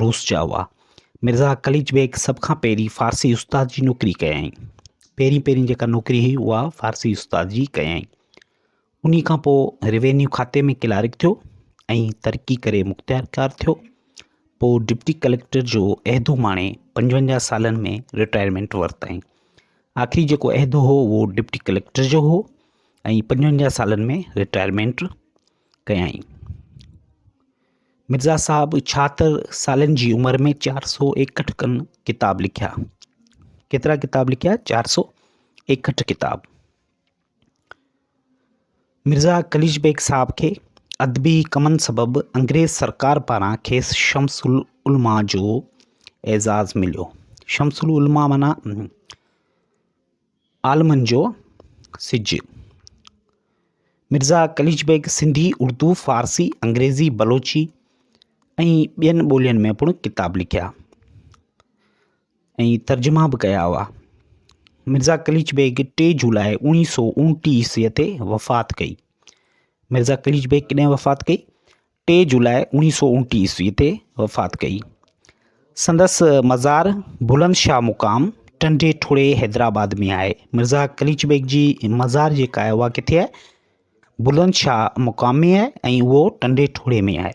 روس جا هئا. مرزا قليچ بيگ سڀ کان پهرين فارسي استاد جي نوڪري ڪيائين. پهرين پهرين جيڪا نوڪري هئي اها فارسي استاد جي ڪيائين. انهي کان پوء روينيو کاتي ۾ ڪلارڪ ٿيو ۽ ترقي ڪري مختيارڪار ٿيو. پوء ڊپٽي ڪليڪٽر جو عهدو ماڻي پنجونجاهه سالن ۾ رٽائرمينٽ ورتائين. آخري جيڪو عهدو هو اهو ڊپٽي ڪليڪٽر جو هو ۽ پنجونجاهه سالن ۾ رٽائرمينٽ ڪيائين. مرزا صاحب ڇاهتر سالن جي عمر ۾ چار سو ايڪهٺ کن ڪتاب لکيا. ڪيترا ڪتاب لکيا؟ چار سو ايڪهٺ ڪتاب. مرزا قليچ بيگ صاحب کي ادبي ڪمن سبب انگريز سرڪار پاران کيس شمس العلماء جو اعزاز مليو. شمس العلماء معنيٰ عالمن جو سج، مرزا قليچ بيگ سنڌي، اردو، فارسي، انگريزي، بلوچي ۽ ٻين ٻولين ۾ پڻ ڪتاب لکيا ۽ ترجما به ڪيا هئا. مرزا قليچ بيگ ٽي جولاء اوڻيهه سو اوڻٽيهه عيسويء تي وفات ڪئي. مرزا قليچ بيگ ڪڏهن وفات ڪئي؟ ٽي جولاء اوڻيهه سؤ اڻٽيهه عيسوي تي وفات ڪئي. سندس مزار بلند شاهه مقام ٽنڊي ٺوڙهي حيدرآباد ۾ آهي. مرزا قليچ بيگ جي مزار جيڪا آهي اها ڪٿي آهي؟ بلند شاهه مقام ۾ آهي ۽ اهو ٽنڊي ٺوڙهي ۾ آهي.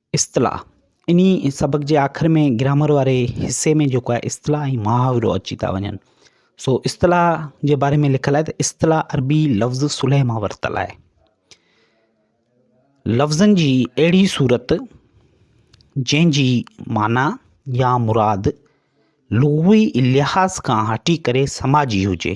اصطلاح، انهي سبق جي آخر ۾ گرامر واري حصي ۾ جيڪو آهي اصطلاح ۽ محاورو اچي ٿا وڃن سو اصطلاح جي باري ۾ لکيل آهي ته اصطلاح عربي لفظ صلح مان ورتل آهي لفظن جي اهڙي صورت جنهن جي معنيٰ يا مراد لغوي لحاظ کان هٽي ڪري سماجي هجي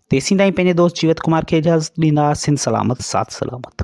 تيسين تائين پنهنجي دوست جيوت ڪمار کي اجازت ڏيندا سنڌ سلامت ساٿ سلامت.